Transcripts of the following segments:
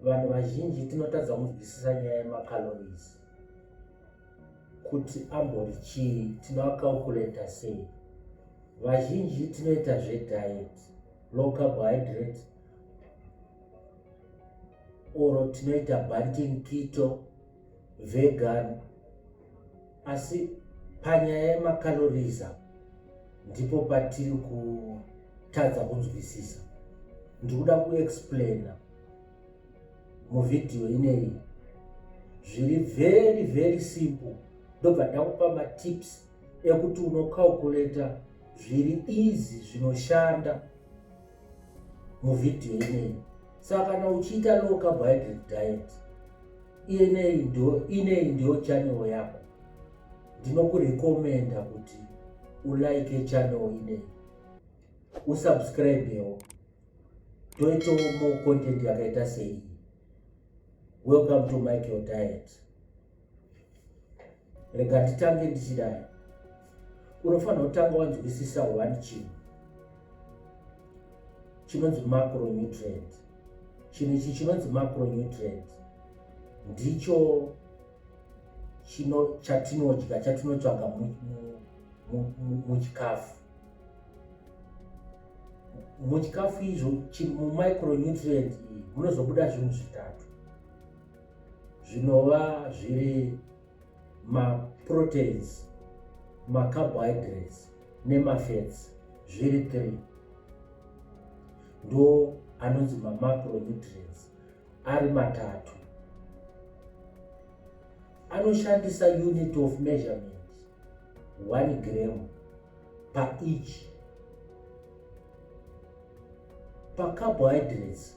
vanhu vazhinji tinotadza kunzwisisa nyaya yemacalories kuti ambori chii tinoacalculator sei vazhinji tinoita zvediet low carbohydrate or tinoita banting kito vegan asi panyaya yemacalories apa ndipo patiri kutadza kunzwisisa ndikuda kuexplaina muvhidhiyo ineyi zviri very very simple ndobva ndakupa matips ekuti unocalculator zviri easy zvinoshanda muvhidhiyo ineyi saka kana uchiita low carbohydrate diet ineyi ndo ineyi ndo channel yako ndinokurekomenda kuti ulike channel ineyi usubscribewo toitawo more content yakaita seiyi welcome to michael diet rega nditange ndichidai unofanira kutanga wanzwisisa one chinhu chinonzi macronutrient chinhu ichi chinonzi macronutrient ndicho chino chatinodya chatinotsvaga muchikafu muchikafu izvo mumicronutrient iyi munozobuda zvinhu zvitatu zvinova zviri maproteins macarbohydrates nemafats zviri three ndo anonzi mamacronutrients ari matatu anoshandisa unit of measurement one gram paeach pacarbohydrates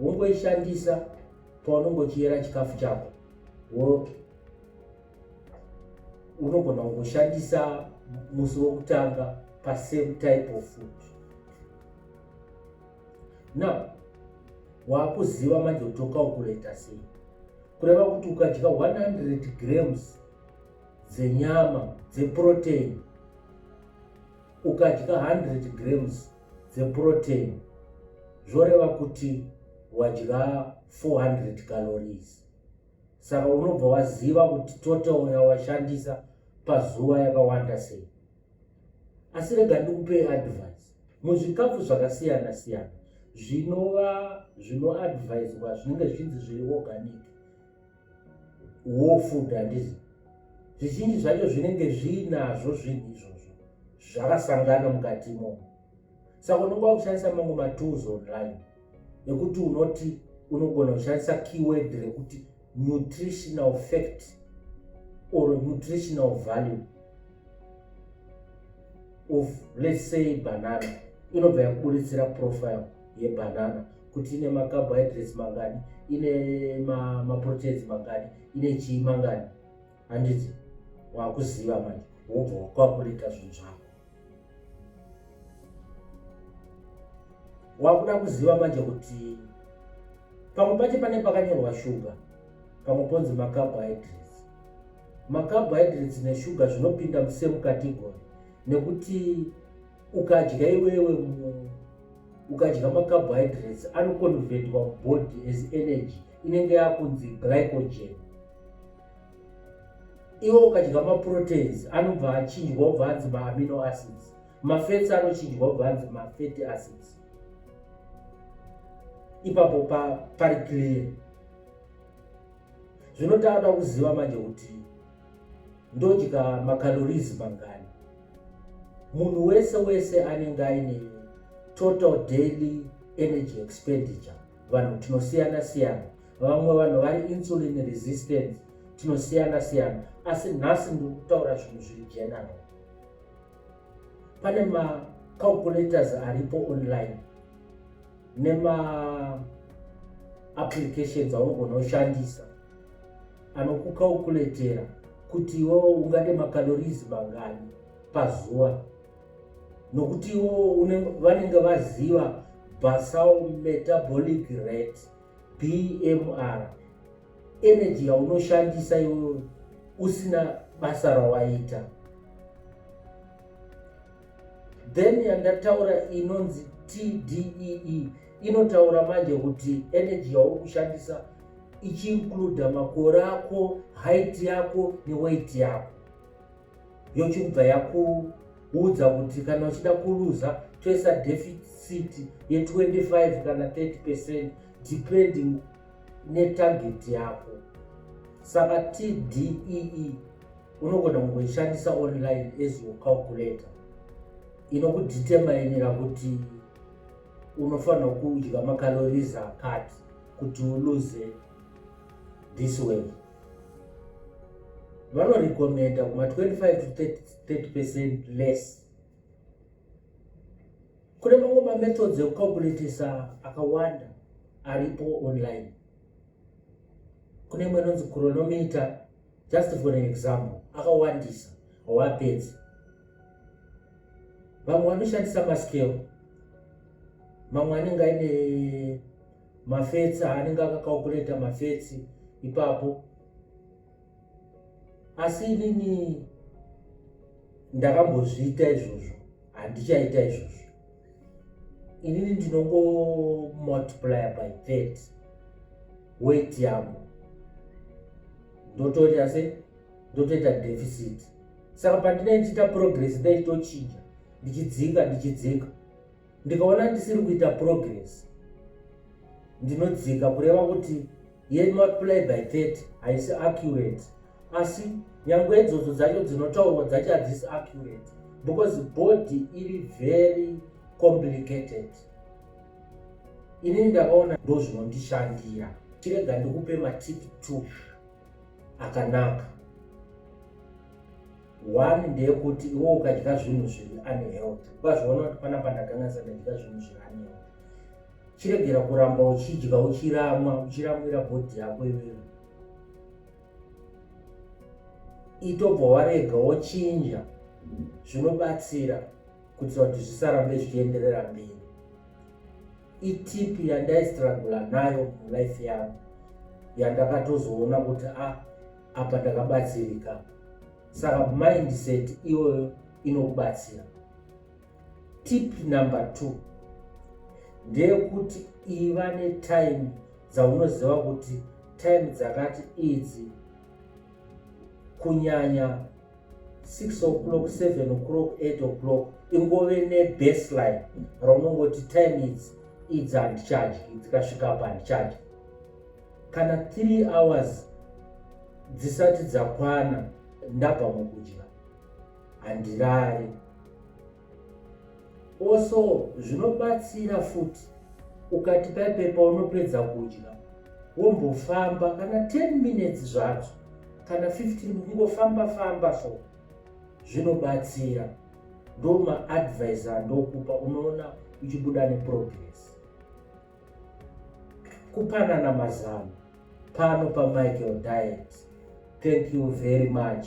wongoishandisa paunenge uchiyera chikafu chako unogona kungoshandisa musi wokutanga pasame type of food now waakuziva manje kuti tokaukureta sei kureva kuti ukadya 100 grams dzenyama dzeprotein ukadya 100 grams dzeprotein zvoreva kuti wadya 400 calories saka unobva waziva kuti total yawashandisa pazuva yakawanda sei asi rega ndikupei advice muzvikafu zvakasiyana siyana zvinova zvinoadviswa zvinenge zvichinzi zviri organic war food handizi zvizhinji zvacho zvinenge zviinazvo zvinhu izvozvo zvakasangana mukati imomo saka unenge wakushandisa mamwe matools online ekuti unoti unogona kushandisa keyword rekuti nutritional fact or nutritional value of let's say banana inobva yakuburitsira profile yebanana kuti ine macarbohydrates mangani ine maproteins ma mangani ine chii mangani handiti wakuziva manje wobva wakwakurita zvinhu zvako wakuda kuziva manje kuti pamwe pacho pane pakanyorwa shuga pamwe ponzi macarbohydrates macarbohydrates neshuga zvinopinda musame category nekuti ukadya iwewe ukadya macarbohydrates anoconvertwa body as energy inenge yakunzi glycogen iwe ukadya maproteins anobva achinjwa obva anzi maamino acids mafets anochinjwa obva anzi mafety acids ipapo pari clear zvinotaura kuziva manje kuti ndodya macalories mangani munhu wese wese anenge aine total daily energy expenditure vanhu tinosiyana siyana vamwe vanhu vari insulin resistance tinosiyana siyana asi nhasi ndiri kutaura zvinhu zviri general pane macalculators aripo online nemaapplications aunogona kushandisa anokukaukuletera kuti iwewo ungade makalorizi mangani pazuva nokuti iwewo vanenge vaziva basal metabolic rate bmr energy yaunoshandisa iwewe usina basa rawaita then yandataura inonzi tdee inotaura manje kuti energy yauri kushandisa ichiincluda makore ako height yako neweight yako yochibva yakuudza kuti kana uchida kuluza toisa deficit ye25 kana 30 percent depending netarget yako saka tdee e, unogona kungoishandisa online as your calculator inokuditemainira kuti unofanirwa kudya macalories akati kuti uluze this way vanorekomenda kuma 25 to 30 percent less kune mamwe mamethods ekucalculatisa akawanda aripo online kune imwe inonzi chronometer just for an example akawandisa hawapedzi vamwe vanoshandisa maskero mamwe anenge aine mafetsi aanenge akakaukureta mafetsi ipapo asi inini ndakambozviita izvozvo handichaita izvozvo inini ndinongomultiplier by that wet yangu ndotoita se ndotoita deficit saka pandinee ndichiita progress ndaitochinja ndichidzinga ndichidzinga ndikaona ndisiri kuita progress ndinodzika kureva kuti ye not play by 30 haisi accurate asi nyangwe idzodzo dzacho dzinotaurwa dzacho hadzisi accurate because body iri very complicated inini ndakaona ndo zvinondishandira chirega ndikupe matip t akanaka one ndeyekuti iwo ukadya zvinhu zviri unhealth ukazviona kuti pana pandakangasa ndadya zvinhu zviri unhealth chiregera kuramba uchidya uchiramwa uchiramwira bhodhi yako iwewe itobva warega wochinja zvinobatsira kuti vantu zvisarambe zvichienderera mberi itipi yandaistrangula nayo mulife yangu yandakatozoona kuti a ah, apa ndakabatsirika saka mindset iyoyo inokubatsira Tip number two ndeyekuti iva netime dzaunoziva kuti time dzakati idzi kunyanya 6 o'clock 7 o'clock 8 o'clock ingove nebaseline raunongoti time idzi idzi handicharge dzikasvika apa handicharge kana 3 hours dzisati dzakwana ndabva mukudya handirare also zvinobatsira futi ukati paipe paunopedza kudya wombofamba kana 10 minutes zvadzo kana 15 kungofamba famba so zvinobatsira ndomaadvise andokupa unoona uchibuda neprogress kupanana mazano pano pamichael diet thank you very much